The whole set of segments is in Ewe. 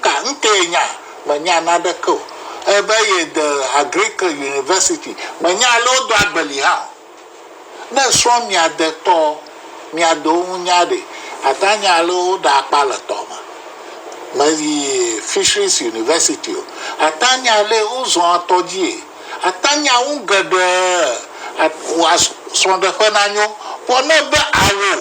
Ka ŋkee nya? Menya naneke o. Ebe ye de Agricle University. Menya ale wodo agbeli hã o. Ne srɔ̃ mia de tɔ, mia de wo ŋu nya ɖe, ata nya ale woɖa akpa le tɔ me. Me yi Fisheries University o. Ata nya ale wo zɔa tɔ dzie. Ata nya ŋu geɖe. Srɔ̃ɖeƒe na nyo. Vɔ ne be ao.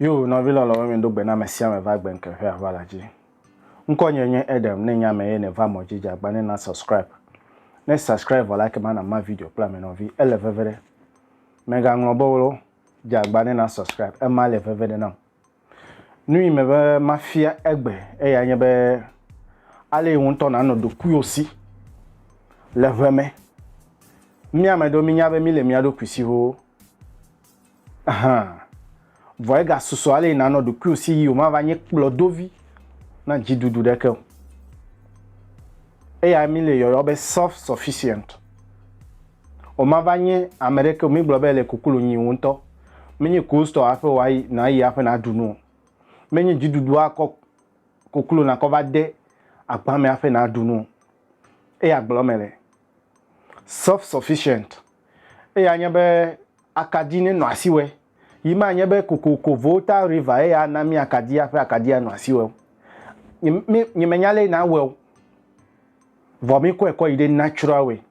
Yo nɔvi lɔlɔ̃wo mi ɖo gbe na me sia me va gbe ŋke ƒe aʋala dzi. Ŋkɔ nye nye Edem ne nye ame ye ne va mɔ dzi dza gba ne na subscribe. Ne subscribe vɔ la ke ma na ma video kple ame nɔvi ele veve ɖe. Me ga ŋlɔ be wolo dza gba ne na subscribe ema le veve ɖe nam. Nu yi me be ma fia egbe eya nye be ale yi ŋutɔ na nɔ ɖokuiwo si le ʋe me. Mia me ɖo mi nya be mi le mia ɖokui siwo Hã. Vɔ egasusɔ ale yi nanɔ ɖokuiwò si yi wòmava nye kplɔdovi na dziɖuɖu ɖeke o. Eyae míle yɔyɔ be self-sufficient. Wòmava nye ame ɖeke o mígblɔ be èle koklo nyi wò ŋutɔ. Menye coldstore aƒe o ayi nàyi aƒe nàɖu nu o. Menye dziɖuɖu akɔ koklo nàkɔ va de agba me aƒe nàɖu nu o. Eya gblɔm mele. self-sufficient. Eya nye be akadi ne nɔ asi wɛ. Yi ma nye be kokoko volta river ye ya na mi akadi ya ƒe akadi ya nɔ asi wɛ. Nye me nya le na wɛ o. Vɔ mi kɔe kɔ yi de natural way.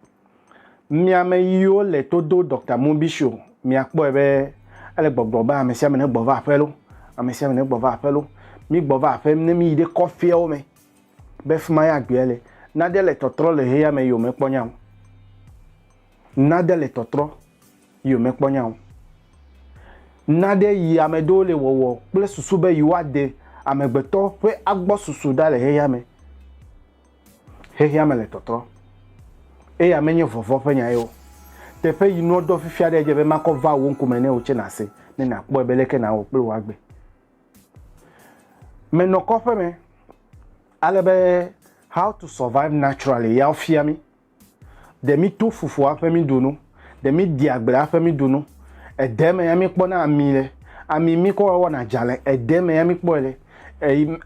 Mia me yiwo le to do Dr. Mubi show, mia kpɔe be ele gbɔgblɔ be ame sia ame ne gbɔ va aƒe lo. Ame sia ame ne gbɔ va aƒe lo. Mi gbɔ va aƒe ne mi yi de kɔfeawo me. be fi mae agbea le. Nade le tɔtrɔ le xexeame yome kpɔ nyao. Nade le tɔtrɔ yome kpɔ nyao. Nade yi ame ɖewo le wɔwɔ kple susu be yewoade amegbetɔ ƒe agbɔsusu ɖa le xexeame. Xexeame le tɔtrɔ. Eya menye vɔvɔ̃ ƒe nyae o. Teƒe yi nua ɖɔ fifia ɖe edze be makɔ va wò ŋkume ne wò tse nàse ne nàkpɔe be leke nàwɔ kple wò agbe. Menɔ kɔƒe me ale be How to Survive Naturally ya wofia mí. Ɖe míto fufua ƒe míɖu nu, ɖe míɖi agblea ƒe míɖu nu, ede me ya míkpɔna ami le, ami míkɔ wɔna dzalẽ, ede me ya míkpɔe le,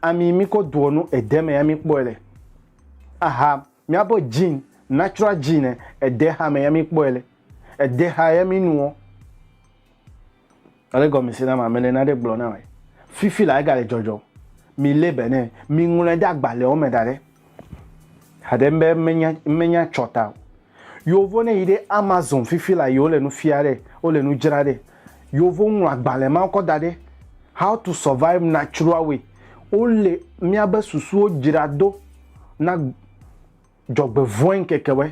ami míkɔ doa nu, ede me ya míkpɔe le. Aha míaƒe gene, natural gene, ede ha me ya míkpɔe le, ede ha ya mínuɔ. Ele gɔme se nam ame le naɖe gblɔ nam e fifi la egale dzɔdzɔm mi le be ne mi ŋlɔe ɖe agbalɛwo me da ɖe haɖe be menya menya tsɔ ta o yovo ne yi ɖe amazon fifi la yi wole nu fia ɖe wole nu dzra ɖe yovo ŋlɔ agbalɛ mawo kɔ da ɖe how to survive natural way wole mia be susuwo dzra do na dzɔgbevɔe ŋkekewɔe.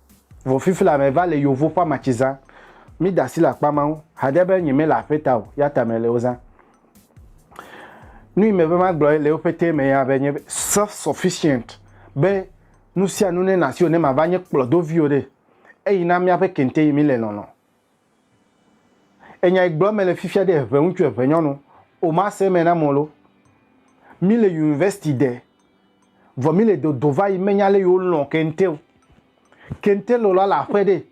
Vɔ fifila me va le yovo ƒa matsi zã. Mi da asi le akpa mawo hade be nye me le aƒe ta o ya ta me le wo zã. Nui me be ma gblɔe le woƒe te me ya be nye self sufficient be nusianu ne na si o ne ma va nye kplɔdo viwo ɖe eyi na mia ƒe kente yi mi le lɔlɔ Enya yi gblɔm mele fifia ɖe ʋe ŋutsu eve nyɔnu o ma se me na mɔ lo. Mi le university de vɔ mi le dodo va yi menya le yi wo lɔn kente o. Kente le la le aƒe ɖe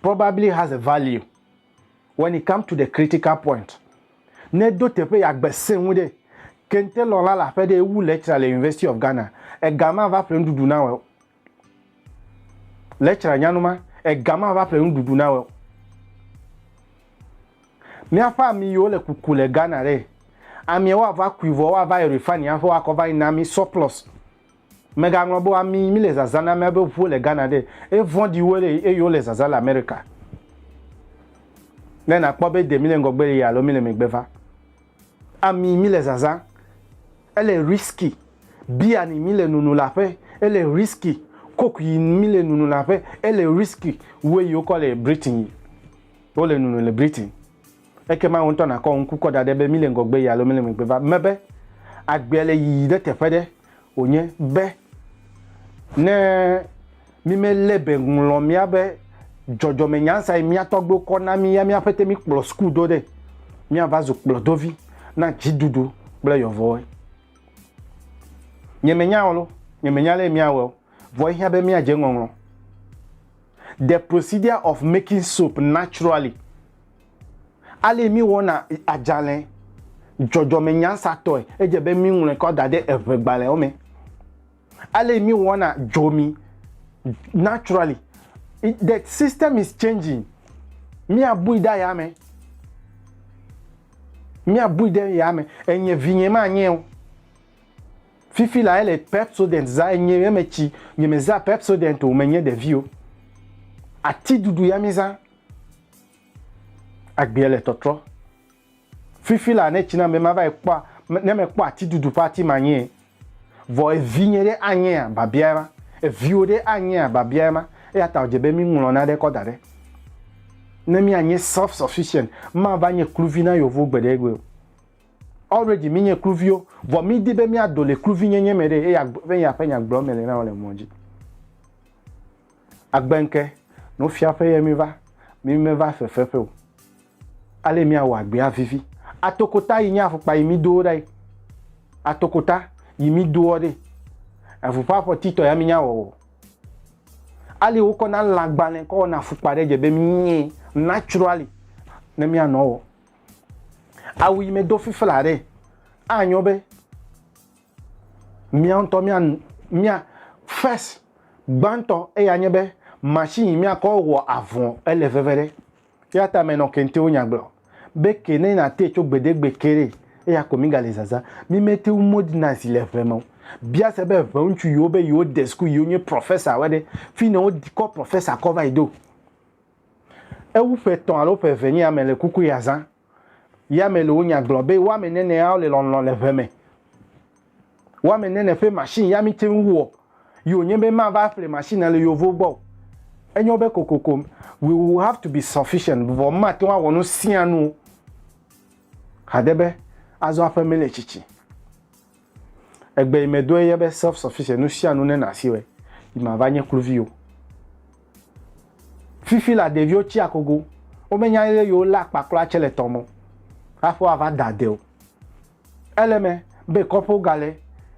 probably has a value when it come to the critical point. Ne do teƒe ya gbe se ŋu ɖe kente lɔn la le aƒe ɖe ewu lecturer le university of Ghana. Ega ma va ƒle nuɖuɖu na wɔ o. Le tsra nyanu ma, ega ma va ƒle nuɖuɖu na weo. Míaƒe ami yiwo le kuku le Ghana ɖe, amia woa va kui vɔ woa va yi refani aƒe woa kɔ va yi na mi surplus. Me ga ŋlɔ be ami yi mi le zazã na mía be ʋuwo le Ghana ɖe, e vɔɖi wu ele eye wo le zazã le America. Ne na kpɔ be de mi le ŋgɔgbe le yi alo mi le megbe va. Ami mi le zaza, ele risky. Beer ni mi le nunu le aƒe, ele risky. Coke yi mi le nunu le aƒe, ele risky. Wue yi wokɔ le Britain yi wole nunu le Britain. Ekema wò ŋutɔ nàkɔ ŋku kɔ da ɖe be mi le ŋgɔgbe yi alo mi le megbe va. Mebe, agbe le yiyi ɖe teƒe ɖe. wònye be ne mímelé be ŋlɔ míabe dzɔdzɔmenyansa yi mía tɔgbuiwo kɔ na mí ya mía ƒete míkplɔ suku do ɖe, míava zu kplɔdovi na dziɖuɖu kple yɔvɔe. Nyemenya o loo, nyemenya ale míawɔe o, vɔ ehiã be míadze ŋɔŋlɔ The Procedure of Making Soap Naturally. Alesi míwɔna adzalẽ dzɔdzɔmenyansatɔe, edze be míŋlɔe kɔ da ɖe eŋegbalẽwo me. Alesi míwɔna dzomi naturally, the system is changing, míabui ɖe yame, míabui ɖe yame, enye vinye manye o. Fifi la ele Pepsodent zã, enye eme tsi nyemezã Pepsodent o, menye ɖevi o. Atiɖuɖu ya mizã. Agbea le tɔtrɔ. Fifi la ne tsi na be mava yi kpɔ ne mekpɔ ati dudu ƒe ati ma nyee. Vɔ evinye ɖe anyea? Biabia ema. Eviwò ɖe anyea? Biabia ema. Eya ta wòdze be míŋlɔ naɖe kɔ da ɖe. Ne míanye self sufficient, mava nye kluvi na yewo gbeɖegbeɖe o. Already mínye kluviwo, vɔ mídi be míado le kluvinyenye me ɖee, eya be yeaƒe nyagblɔm mele na wò le mɔ dzi. Agbe ŋke, Nufiaƒe ye miva, mi meva fefeƒe o. Ale miawɔ agbea vivi. Atokota yi nye afukpa yi mi doɔ ɖae. Atokota yi mi doɔ ɖe. Eŋu ƒe afɔti tɔ ya mi nya wɔwɔ o. Ale wokɔ na lãgbalẽ kɔ wɔna afukpa ɖe dze be mi nye naturally ne mia nɔ wɔ. Awu yi me do fifla ɖe. Anyo be Mía ŋutɔ mía, mía, first, gbãtɔ eya nye be machine yi mía kɔ wɔ avɔ ele veve ɖe. Eya ta me nɔ kentewo nya gblɔ be ke ne na te tso gbedegbe ke ɖe eya ko mi ga le zaza. Mi me te ŋu modernize le ŋe me o. Bia se be ŋe ŋutsu yiwo be yewo de school yiwo nye professor woe ɖe, fi ne wo kɔ professor kɔ va yi do? Ewu ƒe etɔ̃ alo ƒe eve nye ya me le kuku ya zã. Yame le wo nya gblɔ be wame nɛnɛ ao le lɔnlɔ le ʋe me. Wame nɛnɛ ƒe machine ya mi te ŋu wɔ yi o nye be ma va ƒle machine a le yovo gbɔ o. Enye wo be kokoko we will have to be sufficient vɔ ma te ŋu awɔ nu sia nu o. Hade be azɔ aƒe me le tsitsi. Egbe yi me doe ye be self sufficient nu sia nu ne na si wɔe yi ma va nye kluvi o. Fifi la ɖeviwo tsi akogo wo me nya ye yewo le akpa kura tse le tɔ mɔ aƒe wa va da de o. Ele me be kɔƒewo ga le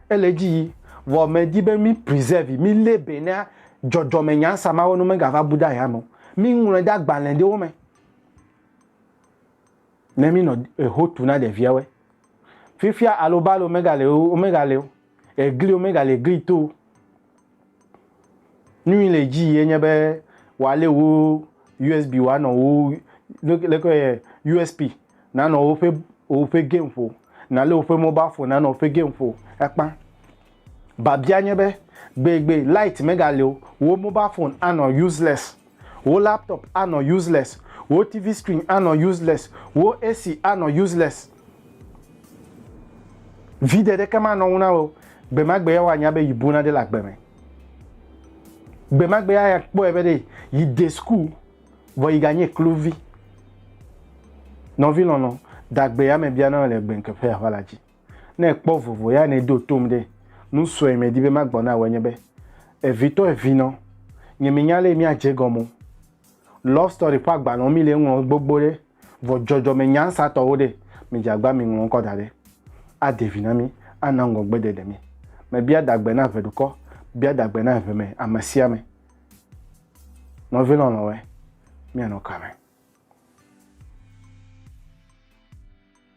ele dzi yi vɔ me di be mi preserve yi mi le be na dzɔdzɔ me nya sa mawe nu me ga va bu da ya me o. Mi ŋlɔe da gbalɛ ɖewo me. Ne mi nɔ eho tu na ɖevia wɛ. Fifia alo balo mega le o, omega le o. Egli omega le egli to. Nui le ji ye nye be wa le wo USB wa nɔ wo le ko ye USB na nɔ wo pe o pe game fo. Na le wo pe mobile phone na nɔ wo pe game fo. Ekpa. Babia nye be, gbegbe light megali o, wò mobile phone anɔ useless, wò laptop anɔ useless, wò TV screen anɔ useless, wò AC anɔ useless. Vide ɖeke manɔ ŋu na wò o. Gbemagbea woanya be yi buna ɖe le agbe me. Gbemagbea akpɔe be ɖe yi de school vɔ yi ganye kluvi. Nɔvi lɔlɔ, da gbe ya me bia na wò le gbeŋkeƒe ya ƒe la dzi. Ne èkpɔ vovo ya ne do tom ɖe, nu sue medi be magbɔ na wòe nye be, Evitɔ evinɔ, nye minya lé míadze egɔme o. Love Story ƒe agbalẽwo mi le ŋlɔ gbogbo ɖe, vɔ dzɔdzɔme nyansatɔwo ɖe, midze agba miŋlɔ ŋkɔ da ɖe. Ade vi na mí, ana ŋgɔgbedede mí. Mebia dagbe na eve dukɔ, bia dagbe na eve me ame sia ame. Nɔvi lɔlɔ̃woe, míanɔ kame.